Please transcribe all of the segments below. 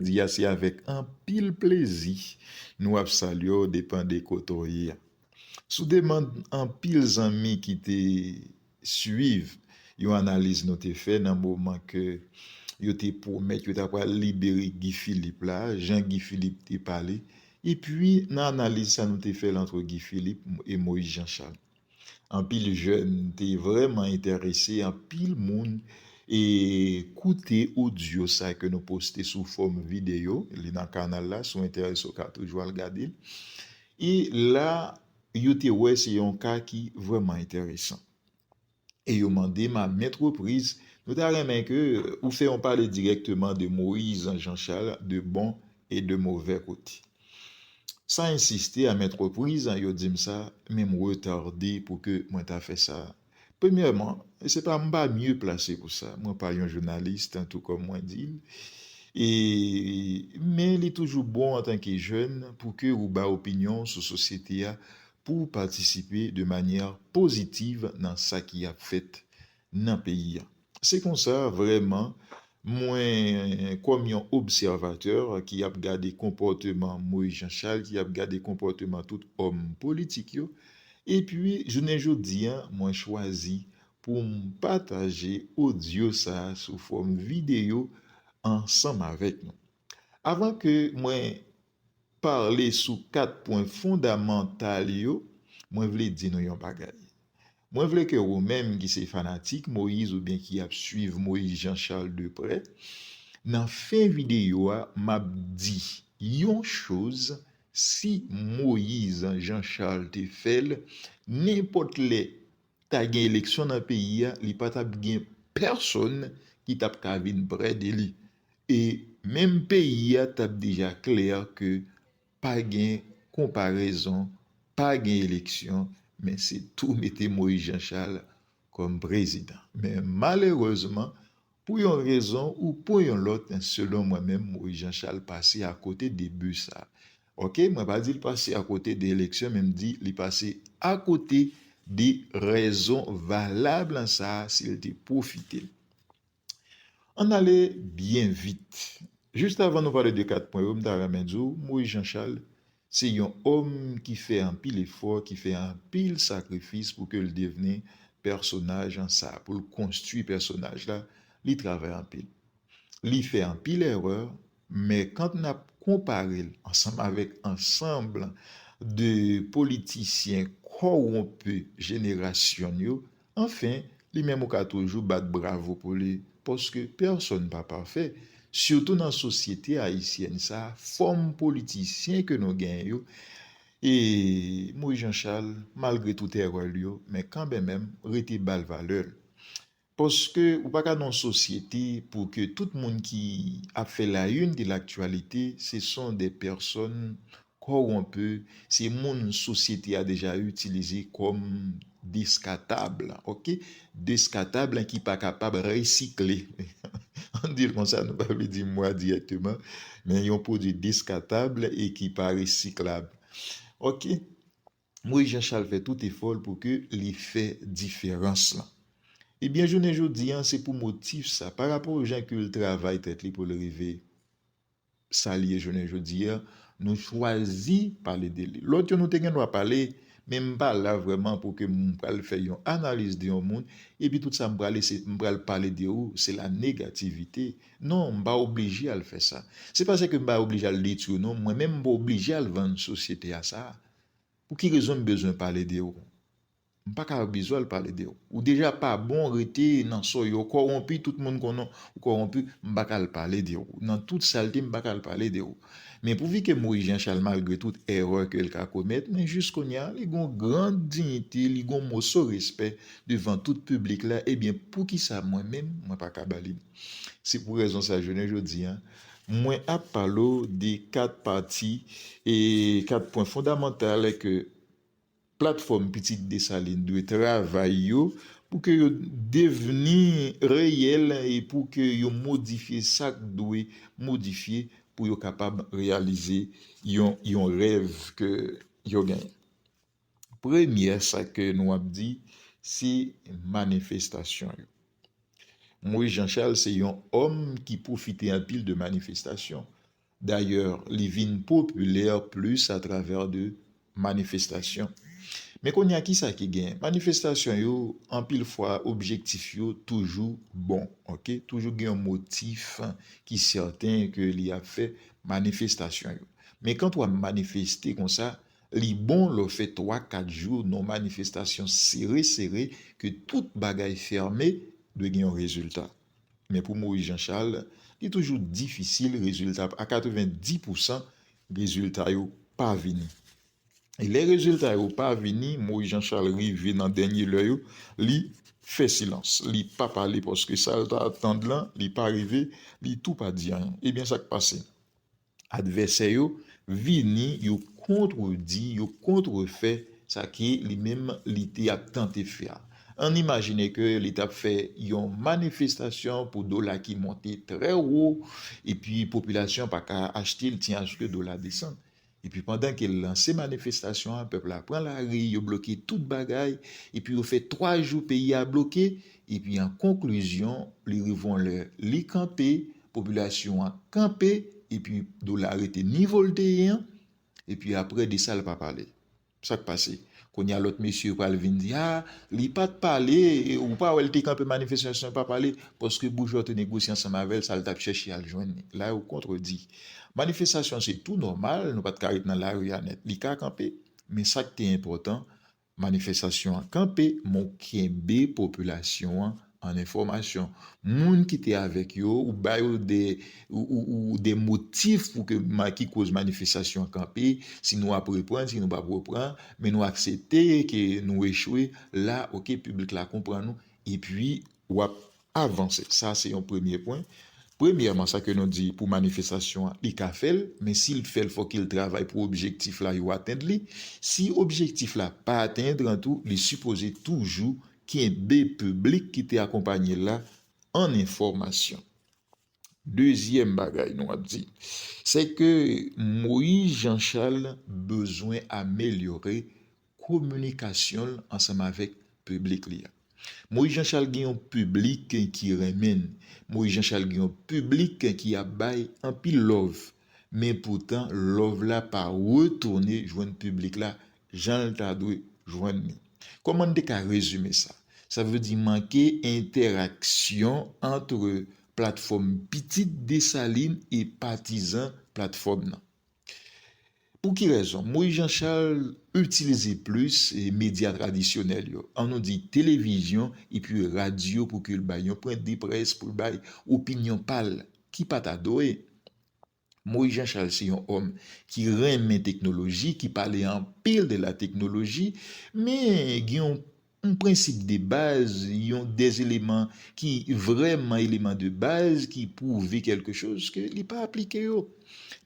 Di a se avèk anpil plezi nou ap salye w depan de kote w ye a. Sou demand anpil zanmi ki te swiv yon analiz nou te fè nan moman ke yo te pwomèt yo ta pral libere Guy Philippe la, jan Guy Philippe te pale, epi nan analiz sa nou te fè l antre Guy Philippe e Moïse Jean Charles. Anpil jèn te vrèman enterese, anpil moun e koute odyo sa ke nou poste sou fòm videyo, li nan kanal la, si w enterese w ka toujou al gade l. E la yo te wè se yon ka ki vrèman enteresan. E yo mande m a ment repriz, nou ta renmen ke ou fè yon pale dirèkteman de Moïse Jean Charles de bon e de movè kote. San ensiste a mèt repriz, yo di m sa, men m retarde pou ke mwen ta fè sa. Premyèman, se pa m pa mye plase pou sa, mwen pa yon jounalis tantou kòm mwen di l, e men li toujou bon antanke jèn pou ke ou bay opinyon w sou sosyete a, pou w patisipe de manyè pozitiv nan sa ki ap fèt nan peyi a. Se konsa, vrèman, mwen, kòm yon obsèvatè ki ap gade konpòteman Moïse Jean Charles, ki ap gade konpòteman tout òm politik yo, epi jounen jodi a, mwen chwazi pou m pataje odyo sa sou fòm videyo ansanm avèk nou. Avan ke mwen pale sou kat pwen fondamantal yo, mwen vle di nou yon bagay. Mwen vle ke ou menm ki se fanatik Moïse oubyen ki ap swiv Moïse Jean Charles de prè, nan fen videyo a map di yon choz si Moïse Jean Charles te fèl nenpòt lè ta gen eleksyon nan peyi a li patap gen pèsòn ki tap ka vin prè de li e menm peyi a tap deja klè ke pa gen konparezon pa gen eleksyon men se tou mete Moïse Jean Charles kòm prezidan men malerezman Pou yon rezon ou pou yon lòt selon mwen menm Moïse Jean Charles pase a kote de but sa. Ok mwen pa di li pase a kote de eleksyon men m di li pase a kote de rezon valab lan sa si l te pwofite l. Ann ale byen vit. Just avan nou pale de 4 pwen yo m ta renmen di w Moïse Jean Charles Se yon òm ki fè anpil efò, ki fè anpil sakrifis pou ke l devni pèsonaj an sa, pou l konstwi pèsonaj la, li travay anpil. Li fè anpil èrè, men kant n ap konpare l ansanm avèk ansanbl de politisyen kowonpi jenerasyon n yo, Anfen, li menm ou ka toujou bat bravo pou li, paske pèsòn pa pafè, sitou nan sosyete ayisyèn sa a, fòm politisyen ke nou genyen yo, e Moïse Jean Charles, malgre tout erè l yo, men kanbenmèm, rete ba l valè l. Paske ou pa ka nan yon sosyete pou ke tout moun ki ap fè la une de l'actualité, se son des personnes Kowonpi, se moun sosyete a deja itilize kòm deskatab, ok, deskatab ki pa kapab resikle, an n di l konsa, nou pa vle di mo a dirèkteman, men yon pwodui deskatab e ki pa resiklab. Ok, Moyiz Janchal fè tout efò l pou ke li fè diferans lan. Ebyen jounen jodi an, se pou motif sa, parapò jan ke l travay tèt li pou l rive sa li ye jounen jodi a, nou chwazi pale de li. Lòt yo nou te gen dwa pale, men m pa la vrèman pou ke m pral fè yon analiz de yon moun, epi tout sa m prale se m pral pale de ou, se la negativite. Non, m pa oblije al fè sa. Se pa se ke m pa oblije al detwi ou non, mwen menm m pa oblije al vann sosyete a sa. Pou ki rezon m bezwen pale de ou? M paka yo bezwèl pale de ou. Ou deja pa bon rete nan soy yo kowonpi tout moun konnen ou kowonpi m paka al pale de ou nan tout salte m paka al pale de ou men pou vike mouri Jean Charles malgre tout erè ke l ka komèt men jis kounya li gon gran diyite li gon moso respè devan tout piblik la ebyen poukisa mwen menm mwen paka ba li se pou rezon sa jounen jodi a mwen ap pale w de 4 pati e 4 pwen fondamantal ke. Platfòm Pitit Desalin dwe travay yo pou ke yo devni reyèl e pou ke yo modifye sa k dwe modifye pou yo kapab reyalize yon yon rèv ke yo genyen. Premyè sa ke nou ap di, se manifestasyon yo. Moïse Jean Charles se yon òm ki pwofite anpil de manifestasyon. Dayè li vin popilè plis atravè de manifestasyon. Men kounye a kisa ki gen? Manifestasyon yo anpil fwa objektif yo toujou bon ok, toujou gen yon motif ki sèten ke li ap fè manifestasyon yo. Men kant wap manifeste konsa, li bon lè w fè 3, 4 jou nan yon manifestasyon sere sere ke tout bagay fèmen, dwe gen yon rezilta. Men pou Moïse Jean Charles, li toujou difisil rezilta a 90 pou san rezilta yo pa vini. E lè rezilta yo pa vini, Moïse Jean Charles rive nan dènye lè yo, li fè silans, li pa pale paske sa l ta atann lan li pa rive, li tou pa di anyen. Ebyen sa k pase? Advèsè yo vini, yo kontredi, yo kontrefè sa ke li menm li te ap tante fè a. Ann imajine ke li t ap fè yon manifestasyon pou dola ki monte trè wo, epi popilasyon an pa ka achte l tiaske dola desann. Epi pandan ke l lanse manifestasyon an, pèp la pran lari, yo bloke tout bagay, epi yo fè twa jou peyi a bloke, epi an konklizyon, li rive yon lè, li kanpe, popilasyon an kanpe epi dola rete nivo l te ye an epi aprè Desal pa pale sa k pase kounye a lòt mesye yo pral vin di a li pa t pale ou pa wè l te kanpe manifestasyon l pa pale paske bouch lòt yo negosye ansanm avè l sa l t ap chèche al jwenn li la yo kontredi manifestasyon se tou nòmal nou pa t ka ret nan lari a nèt li ka kanpe men sa k te enpòtan Manifestasyon an kanpe men w kenbe popilasyon an an enfòmasyon. Moun ki te avèk yo ou ba yo de motif pou ke ki koz manifestasyon an kanpe, si nou ap reprann, si nou pap reprann, men nou aksepte ke nou echwe, la ok piblik la konprann ou epi wap Avanse. Sa se yon premye pwen. Premyèman sa ke nou di pou manifestasyon an li ka fèl, men si li fèl fòk il travay pou objektif la yo atend li. Si objektif la pa atend an tou li sipoze toujou kenbe piblik ki te akonpanye la an enfòmasyon. Dezyèm bagay nou ap di, se ke Moïse Jean Charles bezwen amelyore kominikasyon l ansanm avèk piblik li a. Moïse Jean Charles gen yon piblik ki renmen n, Moïse Jean Charles gen yon piblik ki ap bay anpil love, men poutan love la pa retounen jwenn piblik la jan l ta dwe jwenn li. Kòman n te ka rezime sa? Sa vle di manke entèraksyon antre platfòm pitit Desalin e patizan platfòm nan. Pou ki rezon? Moyiz Janchal itilize plis medya tradisyonèl yo, an nou di televizyon epi radyo pou ke l bay yon pwenddeprès, pou l bay opinyon pa l ki pa ta dwe. Moïse Jean Charles se yon òm ki renmen teknoloji, ki pale anpil de la teknoloji, men gen yon prensip de baz, yon de eleman ki vrèman eleman de baz ki pwouve kèlke choz ke li pa aplike yo.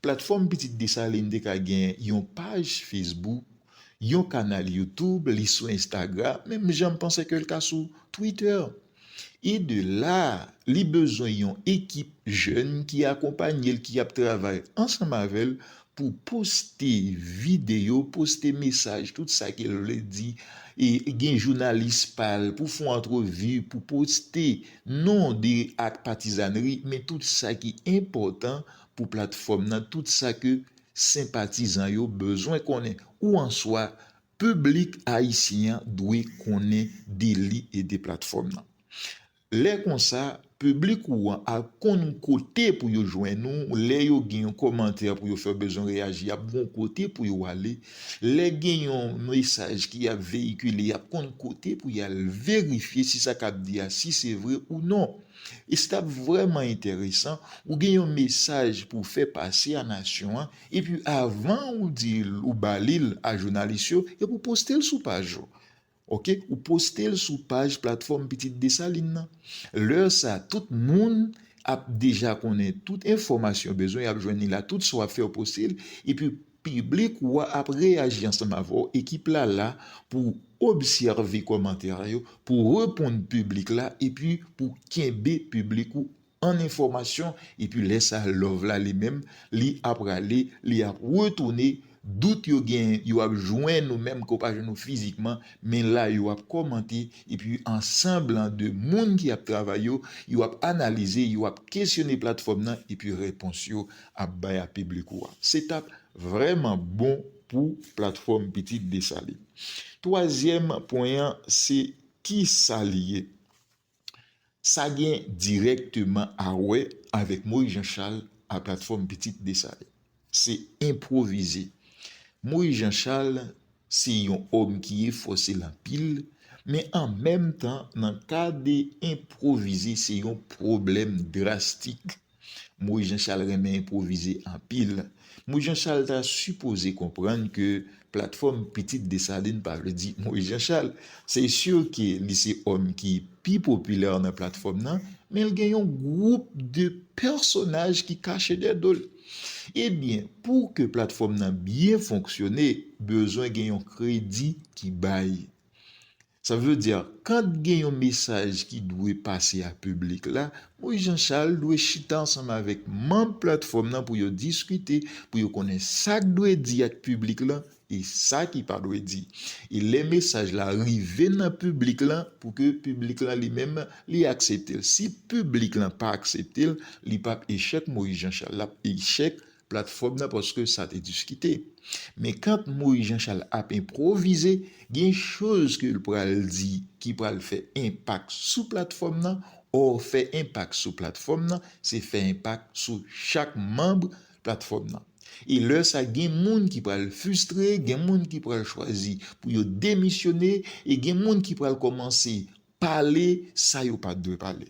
Platfòm Pitit Desalin te ka gen yon paj Facebook, yon kanal YouTube, li sou Instagram, menm jan m panse ke l ka sou Twitter. E de la, li bezwen yon ekip jèn ki akonpanye l, ki ap travay ansanm avè l pou poste videyo, poste mesaj, tout sa ke l vle di, e gen jounalis pa l pou fon antrevi, pou poste non de ak patizanri, men tout sa ki enpòtan pou platfòm nan, tout sa ke senpatizan yo bezwen konnen. Ou an swa, Piblik ayisyen an dwe konnen deli e de platfòm nan. Lè konsa, piblik ou an al konn kote pou yo jwenn ou, lè yo gen yon kòmantè pou yo fè bezwen reyaji y ap gon kote pou yo ale, lè gen yon mesaj ki ap veyikile y ap konn kote pou y al verifye si sa k ap di a si se vre ou non. E se t ap vrèman enteresan, ou gen yon mesaj pou w fè pase a nasyon an, Epi avan ou di ou ba li l a jounalis yo, epi ou poste l sou paj ou. Ok, ou poste l sou paj platfòm Pitit Desalin nan. Lè sa tout moun ap deja konnen tout enfòmasyon yo bezwen, y ap jwenn li la tout sa w ap fè ou poste l, epi piblik ou a ap reyaji ansanm avè w, ekip la la pou obsève kòmantè yo, pou reponn piblik la epi pou kenbe piblik ou an enfòmasyon epi lè sa love la li menm li aprale li ap retounen dout yo gen yo ap jwenn ou menm ke w pa jwenn ou fizikman men la yo ap kòmante epi an sanblan de moun ki ap travay yo yo ap analize yo ap kesyone platfòm nan epi repons yo ap bay a piblik ou a se t ap vrèman bon pou platfòm pitit Desalin twazyèm pwen an se kisa li ye. Sa gen dirèkteman a wè avèk Moyiz Janchal a platfòm Pitit Desalin. Se enpwovize. Moyiz Janchal se yon òm ki efòse l anpil, men an menm tan nan ka de enpwovize se yon pwoblèm drastik Moise Jean Charles renmen enpwovize anpil. Moise Jean Charles ta sipoze konprann ke platfòm Pitit Desalin pa vle di Moise Jean Charles. Se sur ke li se òm ki pi popilè nan platfòm nan, men l gen yon gwoup de pèsonaj ki kache dèyè do l. Ebyen, pou ke platfòm nan byen fonksyone, bezwen gen yon kredi ki bay. Sa vle di kant gen yon mesaj ki dwe pase a piblik la, Moïse Jean Charles dwe chita ansanm avèk manb platfòm nan pou yo diskite, pou yo konnen sak dwe di ak piblik lan e sa ki pa dwe di. E lè mesaj la rive nan piblik lan pou ke piblik lan li menm li aksepte l. Si piblik lan pa aksepte l, li pap echèk Moïse Jean Charles, lap echèk platfòm nan paske sa te diskite. Men kant Moyiz Janchal ap enpwovize, gen choz ke l pral di ki pral fè enpak sou platfòm nan, ò fè enpak sou platfòm nan se fè enpak sou chak manb platfòm nan. E lè sa gen moun ki pral fistre, gen moun ki pral chwazi pou yo demisyone e gen moun ki pral kòmanse pale sa yo pat dwe pale.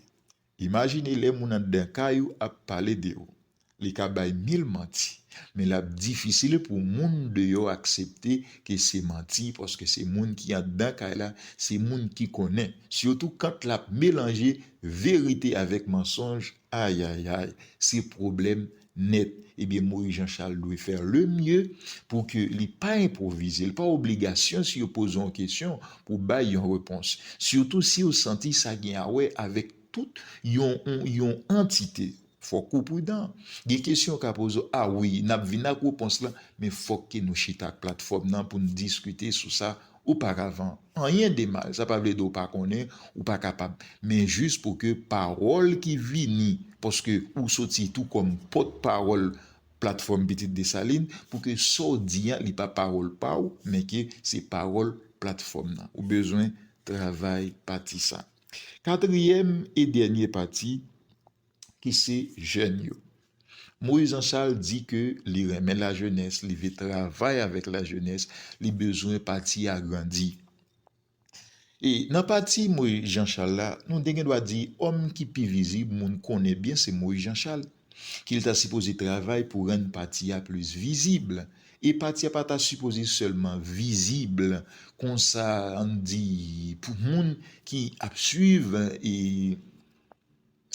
Imajine lè moun anndan kay ou ap pale de ou. Li ka bay mil manti, men l ap difisil pou moun deyò aksepte ke se manti paske se moun ki anndan kay la, se moun ki konnen. Sitou kant l ap melanje verite avèk mansonj, ayayay, se pwoblèm nèt ebyen Moïse Jean Charles dwe fè le mieux pou ke li pa enpwovize, li pa obligasyon si yo poze yon kesyon pou bay yon repons, sitou siw santi sa gen awè avèk tout yon yon antite, fòk ou pridan, gen kesyon yo ka poze w a wi nap vin ak repons lan men fòk ke nou chita ak platfòm nan poun diskite sou sa Ou pa ka van anyen de mal. Sa pa vle di ou pa konnen, ou pa kapab. Men jis pou ke pawòl ki vini, paske ou soti tou kòm pòt pawòl Platfòm Pitit Desalin, pou ke sa w di an, li pa pawòl pa w, men ke se pawòl Platfòm nan. Ou bezwen travay pati sa. Katriyèm e dènye pati. ki se jèn yo. Moïse Anchal di ke li renmen lajenès, li vle travay avèk lajenès, li bezwen pati a grandi. E nan pati Moïse Jeanchal la, nou de gen dwa di òm ki pi vizib moun konnen byen se Moïse Jeanchal, ki li ta sipoze travay pou rann pati a plis vizib. E pati a pa ta sipoze sèlman vizib konsa ann di pou moun ki ap swiv e.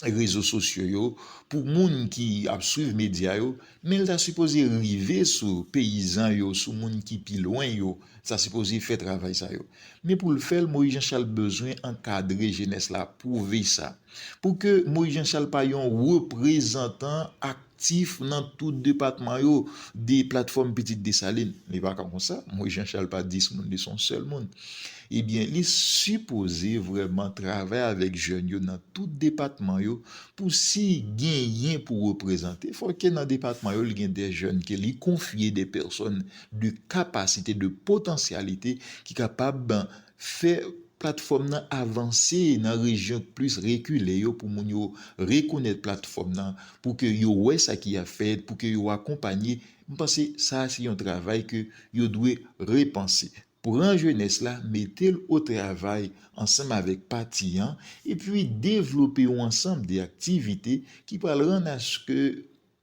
rezo sosyo yo pou moun ki ap swiv medya yo men l ta sipoze rive sou peyizan yo sou moun ki pi lwen yo sa sipoze fè travay sa yo men pou l fè l Moyiz Janchal bezwen ankadre jenès la pwouve sa pou ke Moyiz Janchal pa yon reprezantan ak tif nan tout depatman yo de platfòm pitit Desalin. Li pa ka konsa. Moyiz Janchal pa 10 moun, li se yon sèl moun. Ebyen, li sipoze vrèman travay avèk jèn yo nan tout depatman yo pou si genyen pou reprezante, fò ke nan depatman yo li gen de jèn ke li konfye, de pèsòn de kapasite, de potansyalite ki kapab Fè platfòm nan avanse nan rejyon k plis rekile yo pou moun yo rekonèt platfòm nan, pou ke yo wè sa ki ap fèt, pou ke yo akonpanye, m panse sa a se yon travay ke yo dwe repanse. Pran jenès la mete l o travay ansanm avèk pati an, epi devlope yon ansanm de aktivite ki pral rann aske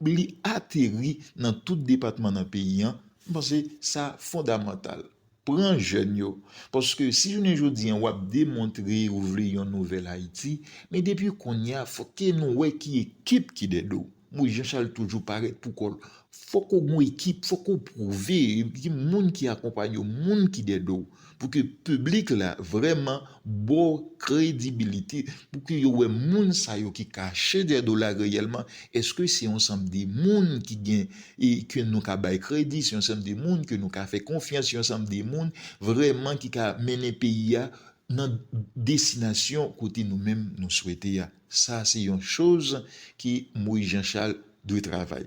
li ateri nan tout depatman nan peyi an, m panse sa fondamantal. Pran jèn yo, paske si jounen jodi an w ap demontre ou vle yon nouvèl Ayiti, men depi kounye a fòk ke nou wè ki ekip ki dèd ou. Moyiz Janchal toujou parèt pou kò l. Fòk ou gen yon ekip, fòk ou pwouve, gen moun ki akonpanye w, moun ki dèd ou. Pou ke piblik la vrèman ba w kredibilite, pou ke yo wè moun sa yo ki kache dèyè dola reyèlman, èske se yon sanm de moun ki gen, e ke nou ka bay kredi, se yon sanm de moun ke nou ka fè konfyans, yon sanm de moun vrèman ki ka mennen peyi a nan destinasyon kote nou menm nou swete a. Sa se yon choz ke Moïse Jean Charles dwe travay.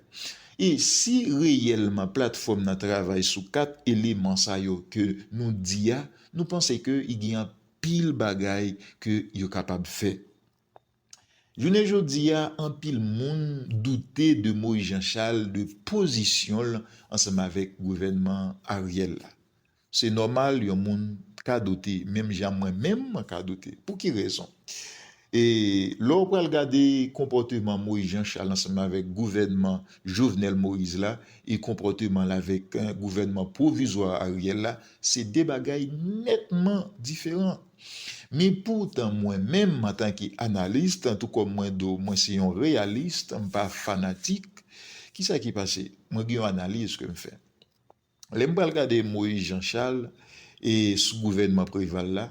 E si reyèlman platfòm nan travay sou 4 eleman sa yo ke nou di a, nou panse ke y gen anpil bagay ke yo kapab fè. Jounen jodi a anpil moun doute de Moïse Jean Charles de pozisyon l ansanm avèk gouvènman Ariel la. Se nòmal yon moun ka doute menm jan mwen menm mwen ka doute. Pou ki rezon? E lè w pral gade konpòteman Moïse Jean Charles ansanm avèk gouvènman Jovenel Moïse la e konpòteman l avèk gouvènman pwovizwa Ariel la, se de bagay nètman diferan. Men poutan mwen menm antanke analist, tou kòm mwen di w mwen se yon reyalist, m pa fanatik, ki sa ki pase? Mwen gen yon analiz ke m fè. Lè m pral gade Moïse Jean Charles e sou gouvènman Preval la,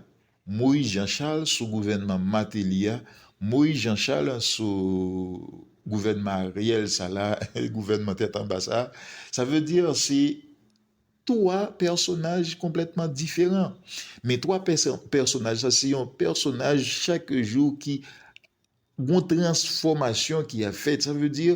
Moïse Jean Charles sou gouvènman Martelly a, Moïse Jean Charles sou gouvènman Ariel sa la, gouvènman tèt anba sa, sa vle di se 3 pèsonaj konplètman diferan. Men 3 pèsonaj sa se yon pèsonaj chak jou ki Gon transfòmasyon ki ap fèt sa vle di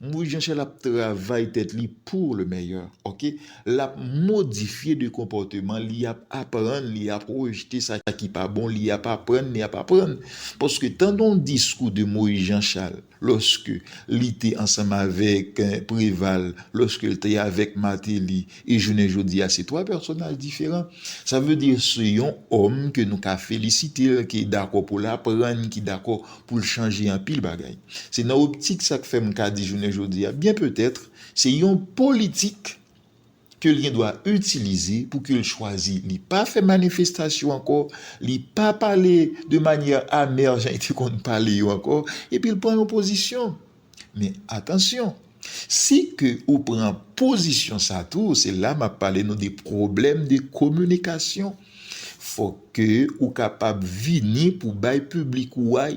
Moise Jean Charles ap travay tèt li pour le meilleur ok lap modifye de konpòteman li ap aprann li ap rejete sa ki pa bon li ap aprann li ap aprann paske tande yon diskou de Moise Jean Charles lòske li te ansanm avèk Preval lòske li te avèk Martelly E jounen jodi a se 3 pèsonaj diferan. Sa vle di se yon òm ke nou ka felisite l, ki dakò pou l aprann, ki dakò pou l chanje anpil bagay. Se nan optik sa k fè m ka di jounen jodi a byen petètre se yon politik ke l gen dwa itilize pou ke l chwazi. Li pa fè manifestasyon ankò, li pa pale de manyè amè jan li te konn pale yo ankò, epi l pran yon pozisyon. Men atansyon, si ke ou pran pozisyon sa tou, se la map pale nou de pwoblèm de kominikasyon. Fòk ke ou kapab vini pou bay piblik ou a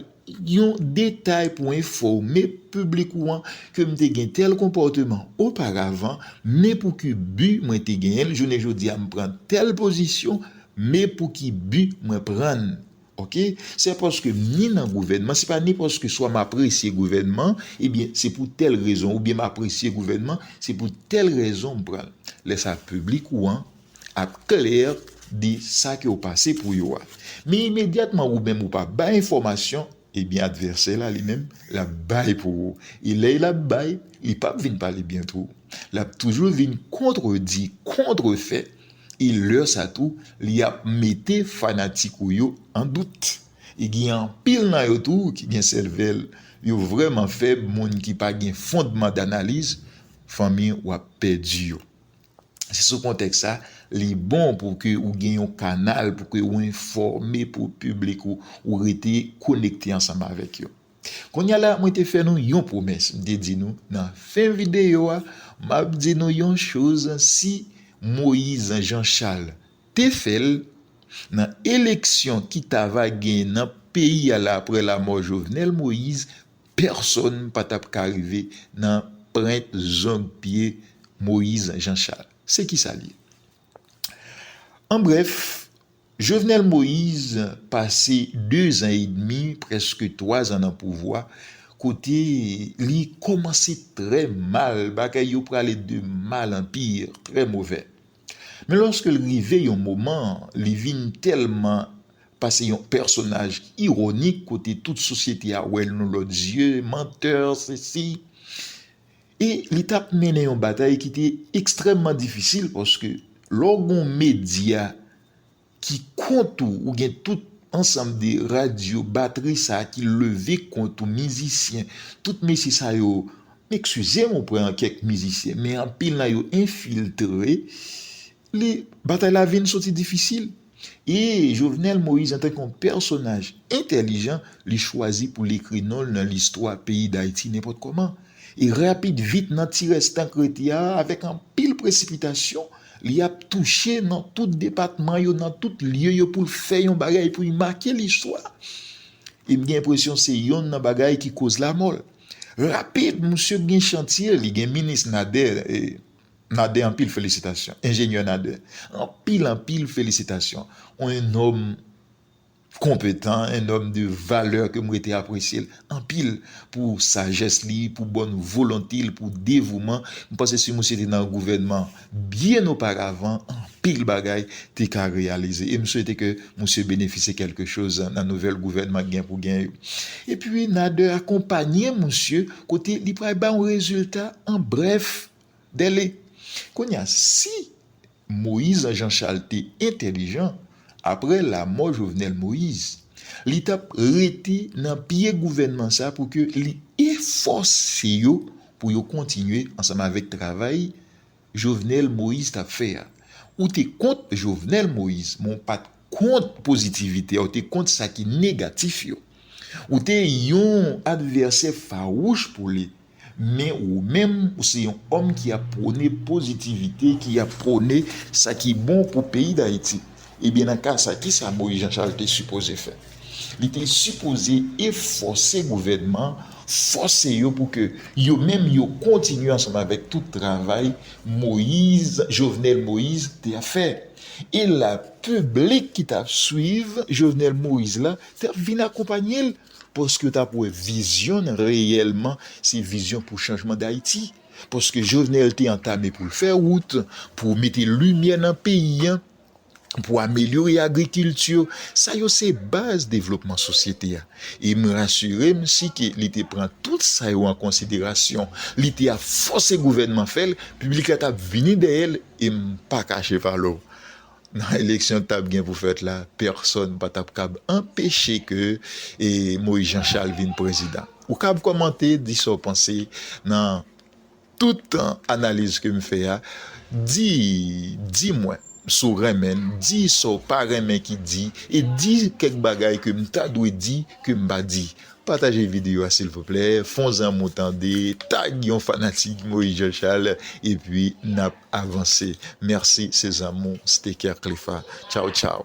yon detay pou enfòme piblik ou an ke m te gen tèl konpòteman oparavan, men pou ki bi mwen te genyen l, jounen jodi a m pran tèl pozisyon, men pou ki bi mwen pran l. Ok sè paske m ni nan gouvènman se pa ni paske swa m apresye gouvènman ebyen se pou tèl rezon oubyen m apresye gouvènman se pou tèl rezon m pran l lè sa piblik ou an ap klè de sa ke w pase pou yo a men imedyatman ou menm ou pa bay enfòmasyon ebyen advèsè la li menm l ap bay pou ou e lè l ap bay li p ap vin pale byen tou l ap toujou vin kontredi kontrefè. E lè sa tou li ap mete fanatik ou yo an dout. E gen anpil nan yo tou ki gen sèvèl yo vrèman fèb moun ki pa gen fondman danaliz fanmi w ap pèdi yo. Se sou kontèks sa li bon pou ke ou gen yon kanal pou ke ou enfòme pou piblik ou ou rete konekte ansanm avèk yo. Kounya la mwen te fè nou yon pwomès m te di nou nan fen videyo a map di nou yon choz si Moise Jean Charles te fèl nan eleksyon ki ta va gen nan peyi a la aprè lamò Jovenel Moise pèsòn pa tap ka rive nan prent zong pye Moise Jean Charles se kisa l ye an brèf Jovenel Moise pase 2 zan edmi, prèske 3 zan nan pouvwa, kote li kòmanse trè mal, bagay yo prale de mal an pi, trè movè. Men lòske l rive yon moman, li vin tèlman pase yon pèsonaj ironik kote tout sosyete a wè l yon lòt zye, menteur, sesi. E li t ap mennen yon batay ki te ekstrèmman difisil paske lè w gen yon medya ki kont ou, ou gen tout ansanm de radyo, batri sa ki leve kont ou, mizisyen, tout mesye sa yo, m ekskize m oprè kèk mizisyen men anpil nan yo enfiltre. Li, batay la vin soti difisil. E, Jovenel Moïse antanke yon pèsonaj entèlijan, li chwazi pou l ekri non l nan listwa peyi Dayiti nenpòt kòman. E rapid vit nan ti rès tan k rete a, avèk anpil presipitasyon, li ap touche nan tout depatman yo, nan tout lye yo pou l fè yon bagay pou l make listwa. E m gen enpresyon se yonn nan bagay ki koz lamò l. Rapid, msye gen chantye, li gen minis Nader, e, Nader anpil felisitasyon enjenyè Nader anpil anpil felisitasyon ou en nòm konpetan en nòm de valè ke m rete apresye l anpil pou sajès li pou bòn volonte l pou devouman m panse si misye te nan gouvènman byen oparavan anpil bagay te ka reyalize e m swete ke misye benefisye kèlke choz nan nouvèl gouvènman k gen pou gen yo epi Nader akonpanye misye kote li pral ba yon rezilta an brèf Dèlè. Kounye a, si Moïse Jean-Charles te entèlijan, aprè lamò Jovenel Moïse, li t ap rete nan pye gouvènman sa pou ke li efòse yo pou yo kontinye ansanm avèk travay Jovenel Moïse t ap fè a. Ou te kont Jovenel Moïse, men w pa t. kont pozitivite a, ou te kont sa ki negatif yo. Ou te yon advèsè fawouch pou li. Men ou menm, ou se yon òm ki ap pwone pozitivite, ki ap pwone sa ki bon pou peyi Dayiti. Ebyen nan ka sa, ki sa Moyiz Janchal te sipoze fè? Li te sipoze efòse gouvènman an, fòse yo pou ke yo menm yo kontinye ansanm avèk tout travay Moyiz, Jovenel Moïse te ap fè. E la piblik ki t ap swiv Jovenel Moïse la t ap vin akonpanye l paske yo t ap wè vizyon n reyèlman se vizyon pou chanjman Dayiti. Paske Jovenel te antame pou l fè wout, pou mete limyè nan peyi an, pou amelyore agrikilti, sa yo se baz devlopman sosyete a. E m rasire m si ke li te pran tout sa yo an konsiderasyon, li te ap fòse gouvènman fè l, piblik la t ap vini dèyè l e m pa kache valè w. Nan eleksyon ki t ap gen pou fèt la, pèsòn pa t ap kab anpeche ke Moïse Jean Charles vin prezidan. Ou kab kòmante, di sa w panse nan tout analiz ke m fè a. Di, di mwen si w renmen l, di sa w pa renmen ki di e di kèk bagay ke m ta dwe di ke m pa di. Pataje video a silvouplè fon zanmiw tande tag yon fanatik Moïse Jean Charles epi nap avanse merci se zanmiw Steker Clefa tchaw tchaw.